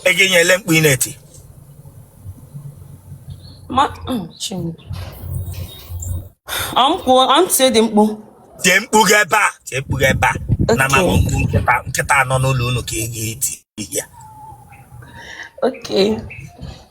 ọ gịnị ele mkpu ị na-eti ọmtie dị mkpu tie mkpu gị ebe a tie mkpu gị ebe a na ma bụ mkpu nkịta nkịta nọ n'ụlọ unu ka ị ga-eti ya Okay.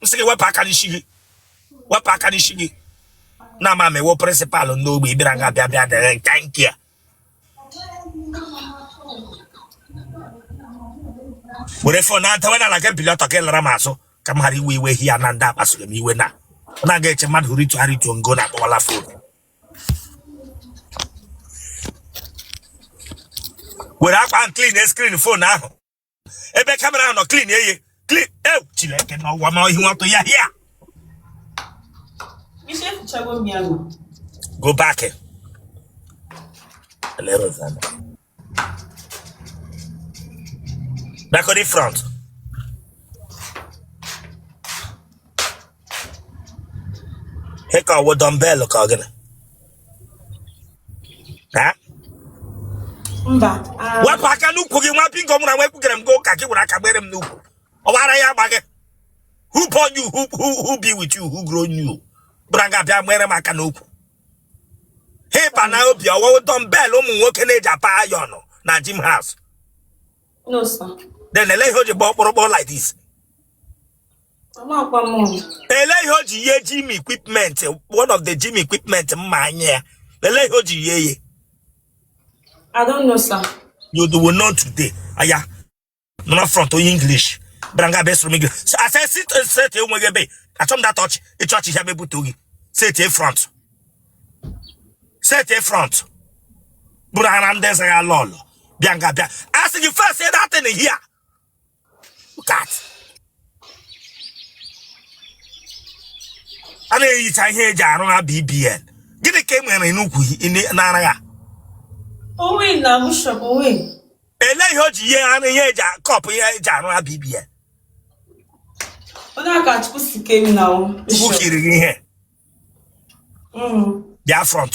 m sị gị wepụ aka n'isi gị wepụ aka n'isi gị na ama m ị wụ principal ndị ogbe ị bịara nga bịa bịa dere nke nke a were fon na-adawe n'ala gị bili ọtọ gị lara m azụ ka m ghara iwe iwe here na ndị akpasoro m iwe na ọ na-aga eche mmadụ hụrụ itu ara ituo ngo na-akpọwala fon were akwa ahụ clean screen fon ahụ ebe kamera ahụ nọ clean ya clean e chineke na ọwa ma ihu atụ ya here ị sị efichago m ya nọ. go back back on the front He ka ọ wụ dumbbell ka ọ gịnị? Ha? mba ah, Wepụ aka n'ukwu gị nwa bingo mụ na nwa ekwugere m gị ụka gị were aka gbere m n'ukwu. Ọbara ya agba gị. Who born you? Who, who, who be with you? Who grown you? Bịara nga bịa gbere m aka n'ukwu. Ihe ị pa n'obi ọ wụ dumbbell ụmụ nwoke na-eji apa iron na gym house. no sir Then ele ihe o ji gba ọkpụrụkpụ like this. Amakwa m ọnụ. ele ihe o ji yie gym equipment one of the gym equipment mma anya ya ele ihe o ji yie ye I don't know, sir. you do will know today aya nọ front onye english bịara nga bịa soro m english so I say sit set enweghị ebe achọ m that ọchị ịchọ ọchị ya mebute oge set e front set e front bịara nga ndị eze ya lọlọ bịa nga bịa a sị gị face that thing here a na-ehicha ihe eji arụ na BBN gịnị ka e nwere n'ukwu n'ara ya ele ihe o ji ihe arụ ihe eji kọpụ ihe eji arụ na BBN chukwu kiri gị ihe mm. bịa front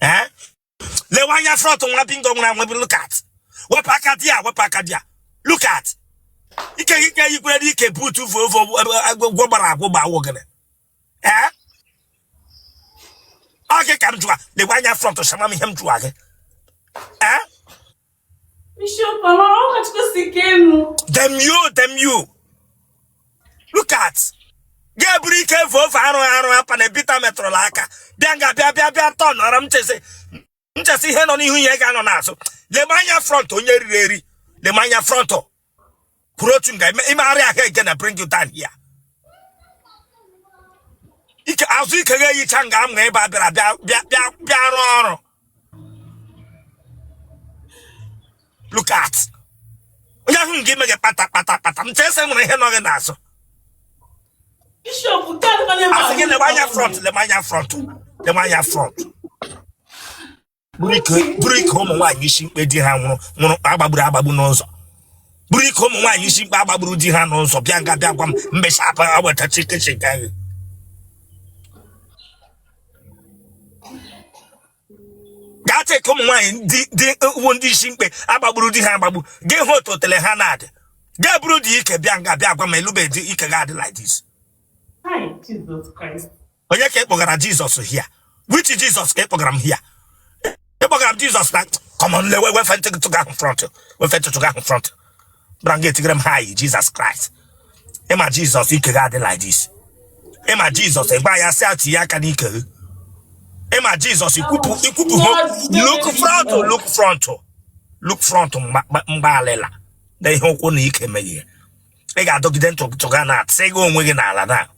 eh? lewe anya front nwa bingo nwere anwebe look at wepụ aka there wepụ aka there look at ike ike yikwere n'ike boot Volvo gwọ gbara agwụ gba ọ wụ gịnị ee ọ gị ka m jụwa lewe anya front shama m ihe m jụwa gị ee Bishop, mama, how much go see Kenu? Damn you, damn you. Look at. ga-eburu ike evu ofe arụ arụ apa na ebita metụrụla aka bịa nga bịa bịa bịa tọ nọrọ m chee sị m chee sị ihe nọ n'ihu ya ga-anọ n'azụ lema anya front onye riri eri lema anya front kwụrụ otu nga i megharịa ahụ I'm gonna bring you down here ike azụ ike ga-eyicha nga m ga ebe a bịara bịa bịa bịa rụọ ọrụ look at onye ahụ nga ime gị kpata kpata kpata m chee sị nwere ihe nọ gị n'azụ a sị gị lebe anya front lebe anya front lebe anya front buru ike- buru ike ụmụ nwaanyị isi mkpe di ha nwụrụ nwụrụ a gbagburu agbagbu n'ụzọ buru ike ụmụ nwaanyị isi mkpe a gbagburu di ha n'ụzọ bịa nga bịa gwa m Bishop agbata chikechi nke anyị gaa check ike ụmụ nwaanyị wụ ndị isi mkpe a gbagburu di ha agbagbu gị hụ otu otele ha na-adị gaa buru dị ike bịa nga bịa gwa m elube dị ike ga-adị like this Hai, Jesus Christ. onye ka ị kpọgara Jesus here which Jesus ka ị kpọgara m here ị kpọgara m Jesus na come on lewe wefe ntutu gị ahụ front wefe ntutu gị ahụ front bra m ga-etigere m hai Jesus Christ ị ma Jesus ike gị adị like this ị ma Jesus ị gba ya si atụ ya aka n'ike gị ị ma Jesus ikwupụ ikwupụ ho look front look front look front mgba alịla na ihe ụkwụ na ike meghị ya ị ga-adọgide ntụtụga na atịsị gị onwe gị n'ala na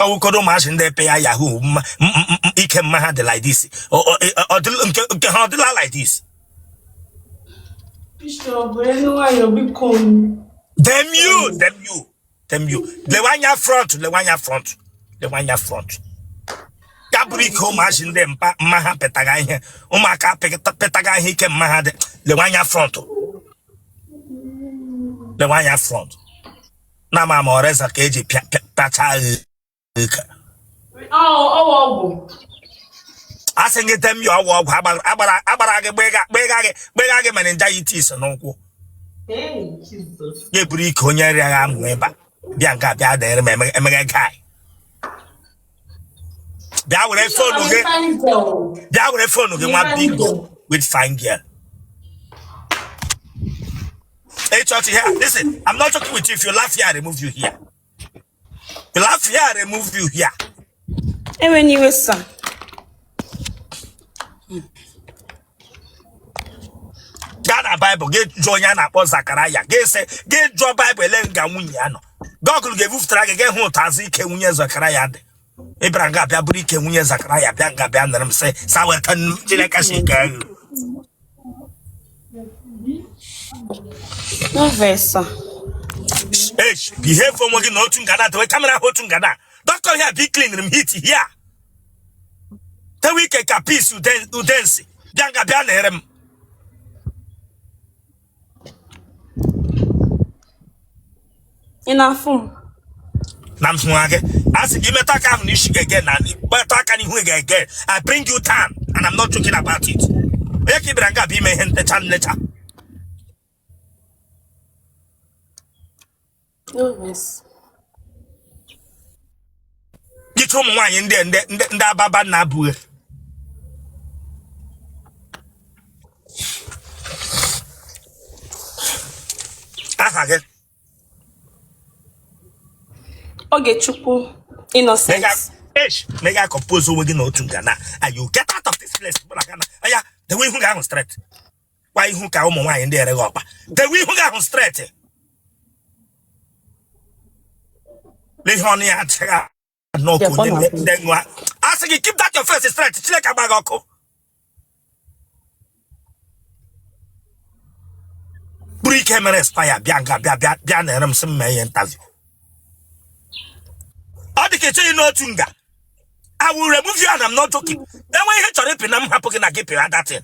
ọ wụkọrọ ụmụazị ndị epe ya Yahoo mma ike mma ha dị like this nke ha ọ dịla like this damn you damn you damn you lewe anya front lewe anya front lewe anya front ya buru ike ụmụazị ndị mma ha petaga ihe ụmụaka petaga ihe ike mma ha dị lewe anya front lewe anya front na ama m ọ razor ka e ji pịa pịa pịacha a sị gị damn you ọgwụ ọgwụ agbara gị gbega gị gbega gị meningitis n'ụkwụ ya eburu ike onye rịaga amụ ebe a bịa nke a bịa danyere m emega guy bịa were phone gị bịa were phone gị nwa bingo with fine girl Hey, church here. Listen, I'm not joking with you. If you laugh here, I remove you here. You laugh here, I remove you here. Ewena iwe sir. Gaa na Baịbụl gị jụọ onye a na-akpọ Zakaraya gị jụọ Baịbụl ele nga nwunye ya nọ. Google ga-ebufutara gị gị hụ otu azụ ike nwunye Zakaraya dị. ị bịara nga a bịa buru ike nwunye zakaraya bịa nga bịa nara m sị sir weta nnu chineke si nke ahụ Nvesa. Eish, behave onwe gị na otu nga na dewe kamera ahụ otu nga na doctor ihe a bịa cleaniri m heat here tewe ike ka pis udensi bịa nga bịa na-ere m ị na-afụ m na m hụrụ gị a sị gị metụ aka ahụ n'isi gị again na metụ aka n'ihu gị again I bring you down and I'm not joking about it onye ka ị bịara nga bịa eme ihe ntecha nlecha jicha ụmụ nwaanyị ndị ndị ababa na abụghị aha gị Ogechukwu Innocent mega compose onwe gị na otu nga na or you get out of this place bụla gana anya dewe ihu gị ahụ straight kwa ihu ka ụmụ nwaanyị ndị ereghị ọkpa dewe ihu gị ahụ straight n'ihe ọnụ ya adịghị n'ọkụ ndị nwa a sị gị keep that your face straight chineke agba gị ọkụ buru ike mere expire bịa nga bịa bịa bịa na-ere m sị m mee interview ọ dị ka ị chọghị ịnọ otu nga I will remove you and I'm not joking. Then when you chọrọ ịpị na m hapụ gị na gị pịra that thing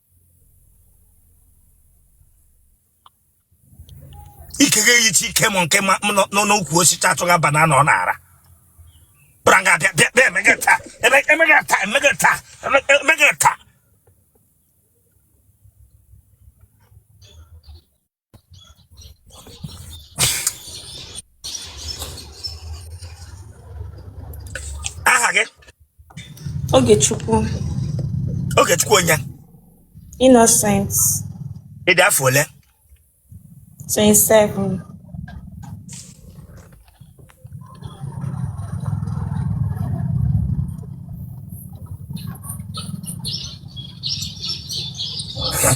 ike gị eyichi ike monkey ma nọ n'ukwu osisi achọga banana ọ na-ara bịara nga bịa bịa bịa emega taa eme- emega taa emega taa eme- emega taa aha gị Ogechukwu Ogechukwu onye Innocent ị dị afọ ole 27 Huh?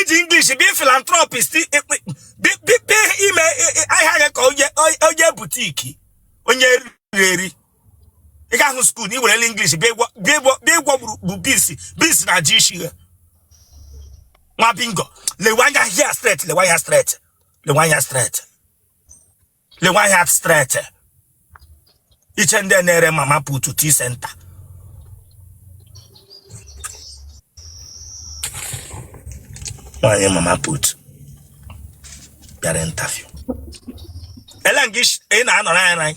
i ji English bịa philanthropist bịa ime ahịa gị ka onye boutique onye eriri eri ị gahụ school na i werela English bịa ịgwọ bụ beans beans na ji isi ya nwa bingo lewe anya here straight lewe anya straight lewe anya straight lewe anya straight i che ndị na-ere mama put tea centre nwaanyị mama put bịara interview ele nke ị na-anọrọ anyị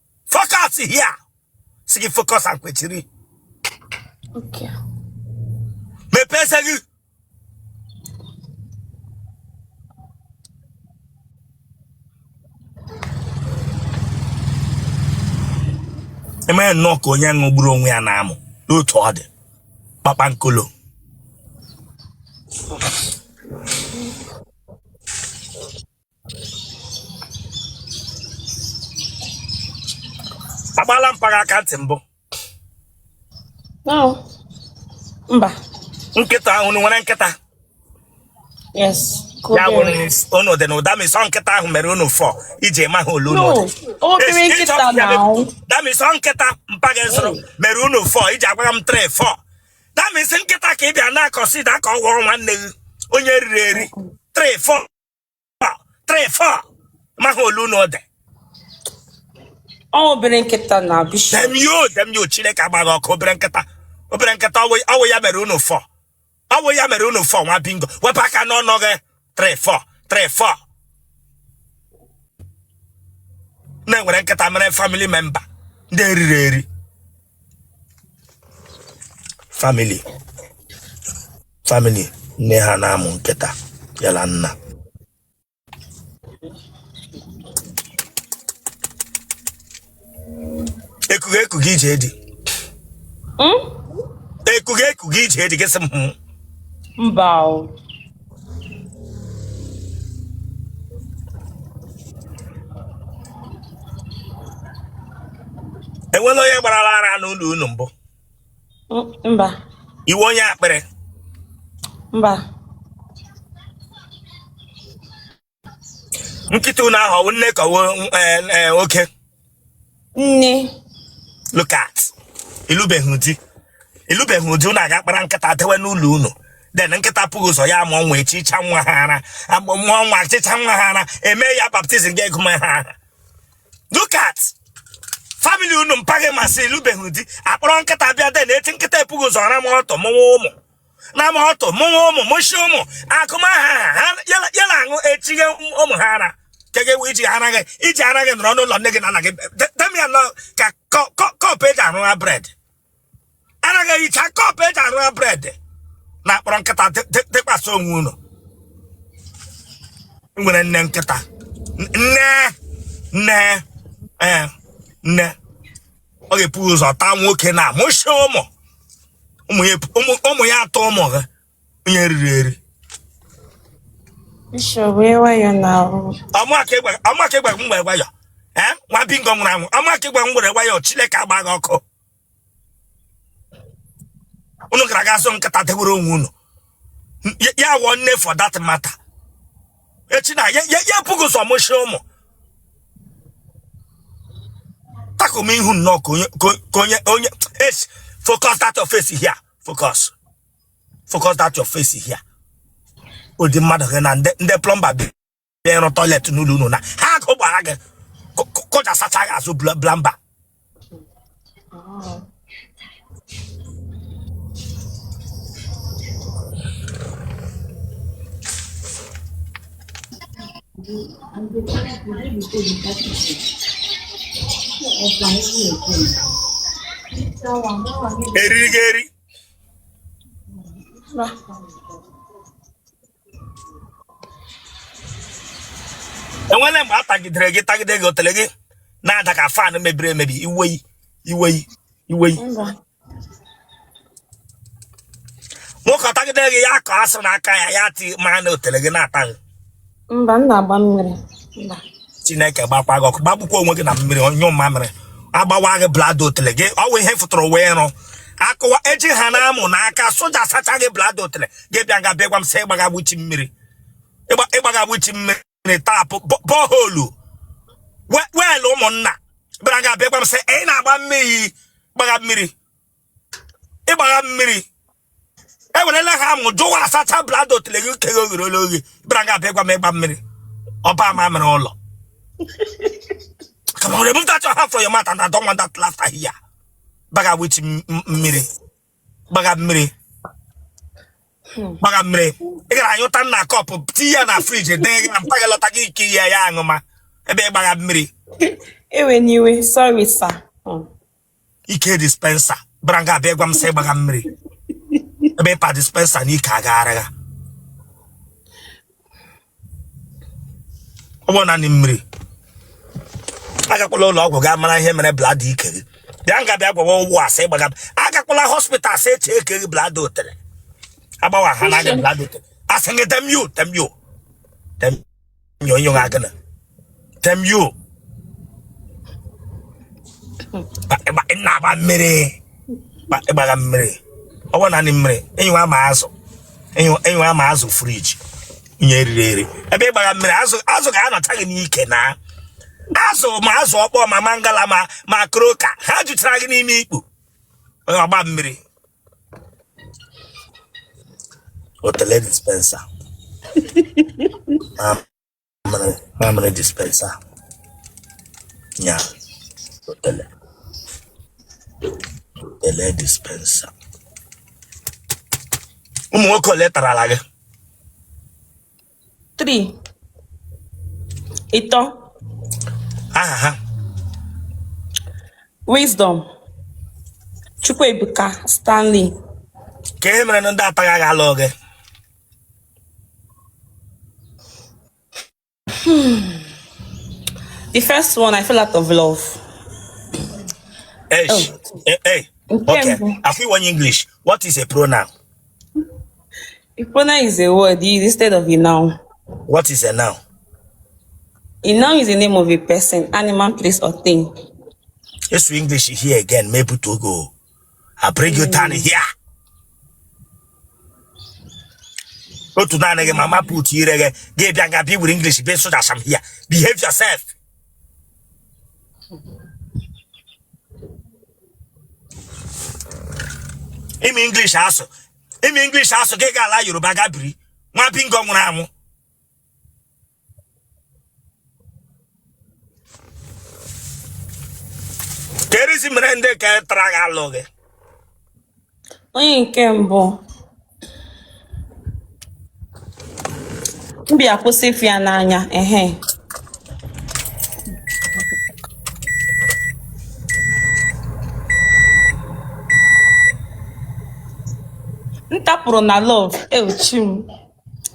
focus here sị gị focus and kwechiri Okay. mepee eze gị emee nnọọ ka onye ṅụgburu onwe ya n'amụ n'otu ọ dị kpakpankolo agbaala mpa gị aka ntị mbụ mba nkịta ahụ nwere nkịta ya wụrụ unu dị na that means nkịta ahụ mere unu four iji amaghị ole unu that means nkịta mpa gị zụrụ mere unu four iji agwa m three four that means nkịta ka ị bịa na consider ka ọ wụrụ nwanne gị onye eriri eri three four three four maghị ole unu dị Ọ obere nkịta na bishop. damn you damn you chineke gbaa gị ọkụ obere nkịta obere nkịta ọ wụ ọ wụ ya mere unu four ọ wụ ya mere unu four nwa bingo wepụ aka n'ọnụ gị three four three four na-ewere nkịta mere family member ndị eriri eri family family nne ha na-amụ nkịta ya na nna ekughị ekughị ije di Hmm? ekughị ekughị ije di gị sị m "Hmm." Mba o. enwela onye gbarala ara n'ụlọ unu mbụ mba ị wụ onye akpịrị mba nkịta unu ahụ ọ wụ nne ka ọ wụ oke nne look at ị lụbeghị di ị lụbeghị di unu aga kpọrọ nkịta dewe n'ụlọ unu then nkịta epu gị ụzọ ya mụọ nwa echicha nwa ha ara mụọ nwa echicha nwa ha ara eme ya baptism ga-agụ ha aha look at family unu mpa gị ma sị ị lụbeghị di akpọrọ nkịta bịa then eti nkịta epu gị ụzọ rama ọtụ mụwa ụmụ rama ọtụ mụwa ụmụ mụchi ụmụ agụma ha aha ya na aṅụ echighe ụmụ ha ara kege iji ara gị iji ara gị nọrọ n'ụlọ nne gị na nna gị demia nọ ka cup eji arụ ha bread anaghị ehicha cup eji arụ bread na akpọrọ nkịta tụkwasa onwe unu nwere nne nkịta nne nne ee eh, nne ọ ga-epu ụzọ taa nwoke na mụchie ụmụ ụmụ ya atọ ụmụ ha onye riri eri Bishop were wayọ now. amaka ịgwa amaka ịgwa m were wayọ ee nwa bingo nwụrụ anwụ amaka ịgwa m were wayọ chineke agba gị ọkụ unu gara aga zụ nkịta dewere onwe unu N- ya- ya wụọ nne for that matter echi na ya ya ya ebughị ụzọ mụchie ụmụ takụm ihu nnọọ ka onye ka onye onye es focus that your face here focus focus that your face here ụdị mmadụ gị na ndị plumber bịa ịrụ toilet n'ụlọ unu na ha akụ gbara gị kụja sacha gị azụ plumber eriri gị eri enwere mgbe a tagidere gị tagide gị otele gị na-ada ka fan mebiri emebi iweyi iweyi iweyi nwoke ọtagide gị ya akọ asụ n'aka ya ya ti ma na otele gị na-ata gị Mba, m na-agba mmiri. Mba. chineke gbakwa gị ọkụ gbagbukwa onwe gị na mmiri onyụ mamịrị agbawa gị bladder otele gị ọwụ ihe fụtụrụ uwe ịrụ akụwa eji ha na-amụ n'aka soja sacha gị bladder otele gị bịa nga bịa gwa m sị ịgbaga which mmiri Ịgba- ịgbaga which mmiri tap bo- borehole we- well ụmụnna bịara nga bịa gwa m sị ị na-agba mmiri gbagha mmiri ịgbagha mmiri ewerela ha amụ jụwa asacha bladder otele gị keghe oghere ole oghe bịara nga bịa gwa m ịgba mmiri ọgba mamịrị ụlọ Come on, remove that your hand from your mouth and I don't want that laughter here. Gbaga which mmiri. Gbaga mmiri. Gbaga mmiri. Ị gara anyụta na cup tinye ya na fridge dee gị na mpa gị lọta gị ike ya ya aṅụma ebe ị gbaga mmiri. Ewena iwe, sorry sir. Hmm. ike dispenser bịara nga bịa gwa m sị ịgbaga mmiri ebe ị pa dispenser n'ike agaghara ya ọ bụ naanị mmiri agakwala ụlọ ọgwụ gaa mara ihe mere bladder ike gị bịa nga bịa gwawa ụgwọ asị ịgbaga agakwala hospital asị e checkie gị bladder otele agbawa ha na aga bladder otele asị gị temio temio temio nyo nyo ga gana tem yo ba- ị na-agba mmiri ba- ịgbaga mmiri ọ bụ naanị mmiri enyi ama azụ enyi ama azụ fridge onye eriri eri ebe ị gbaga mmiri azụ azụ ga-anọcha gị n'ike na azụ ma azụ ọkpọ ma mangala ma ma croaker ha jụchara gị n'ime ikpu ọgba mmiri otele dispenser mamịrị dispenser nya otele otele dispenser ụmụ nwoke ole tarala gị 3 ịtọ aha ha wisdom chukwuebuka stanley kee ihe mere na ndị a tara gị agaghị alụ gị the first one i fell out of love Eish. Eh, eh. Okay. Afọ iwe onye English, what is a pronoun? Ipona is a word. He is instead of a noun. What is a noun? A noun is the name of a person, animal, place, or thing. Let's do English here again. Maybe to go. I bring you down here. otu naanị gị mama put ire gị gị bịa nga bịa were english bịa soja sam here behave yourself ị ma English asụ ị ma English asụ gị gaa ala Yoruba ga biri nwa bingo nwụrụ anwụ kee reason mere ndị nke tara gị alụ gị onye nke mbụ m bịa kwụsị ịfụ ya n'anya ehe m tapụrụ na love ewu chi m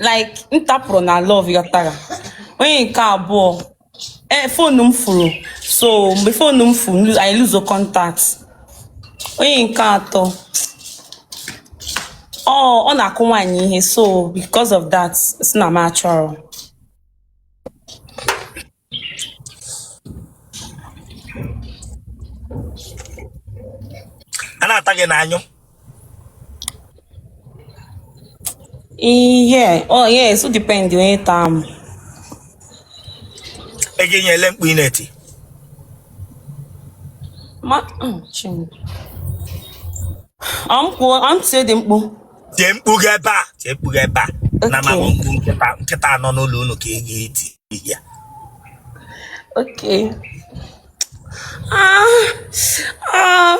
like m tapụrụ na love ị ghọtara onye nke abụọ ee phone m furu so mgbe phone m furu lu- anyị luzuo contact onye nke atọ ọ ọ na-akụ nwaanyị ihe so because of that sị na m achọrọ a na-ata gị ị na-anyụ Ihe, oh yes, o depend onye taa m. E gị nyele mkpu ị na-eti. Ma, mm, chin. Ọ m kwuo, ọ m tie dị mkpu. Tie mkpu gị ebe a. Tie mkpu gị ebe a. Na ma Okay. mkpu nkịta nkịta nọ n'ụlọ unu ka ị ga-eti. ihe okay ah ah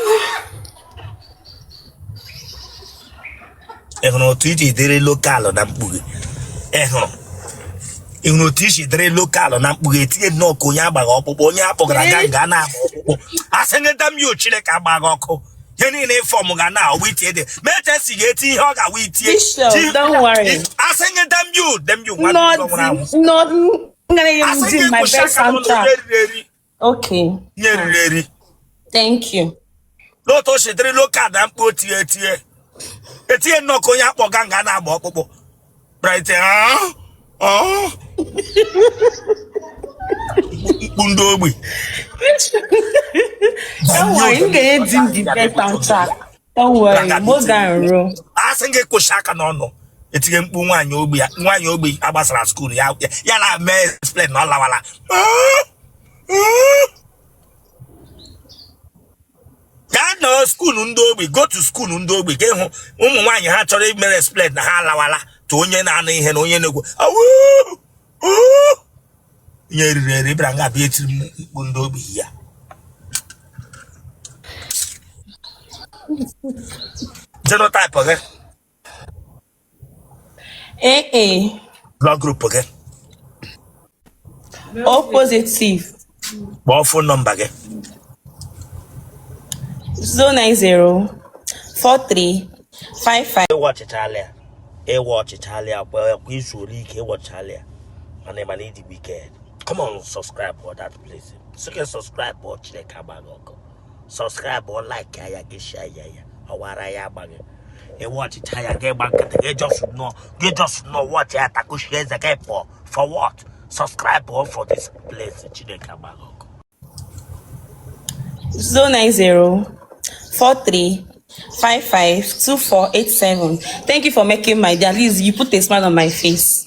ị hụrụ otu i si dịrị local na mkpu gị ị hụrụ ị hụrụ otu i si dịrị local na mkpu gị etie nnọọ ka onye a gbagha ọkpụkpụ onye a kpọgara aga nga a na-ahụ ọkpụkpụ a sị gị damn you chineke agbaa gị ọkụ ihe niile ị form ga na awụ itie dị ma eche si ga-eti ihe ọ ga-awụ itie asị gị damn you damn you asị gị kwụsị aka n'ụlọ eriri eri nye eriri eri thank you lee otu o si dịrị local na mkpu o tie etie etie nnọọ ka onye a kpọga nga a na-agba ọkpụkpụ right ah, ah. mkpu ndị ogbi Don't worry, m ga-edi m the best answer. Don't worry, more than ruo. a sị m gị kwuchi aka n'ọnụ etige mkpu nwaanyị ogbi ya nwaanyị ogbi agbasara skuul ya ya- ya na-eme explain na ọ lawala Ah, ah. gaa na skuulu ndị ogbi go to skuulu ndị ogbi ka ịhụ ụmụ nwaanyị ha chọrọ ime explain na ha alawala to onye na-anụ ihe na onye na-ekwu onye eriri eri bịara nga bịa etiri m mkpu ndị ogbi ya genotype gị Ee e, Blood group gị. o positive Kpọọ fon nọmba gị. 090 43 55 Ị watchịchala ya. Ị watchịchala ya. Kwa kwa i zuru ike ị watchịchala ya. Mana ị ma na ị dị wicked. Come on, subscribe for that place. Sị gị subscribe for Chineke agba gị ọkụ. subscribe like ya gị share ya ya ọ wụ ara ya agba gị ị watchịcha ya gị gba nkịtị gị just nọ gị just nọ watchị ya takuchie eze gị pụọ for what subscribe for this place Chineke agba gị ọkụ 090 43 552487. Thank you for making my day. At least you put a smile on my face.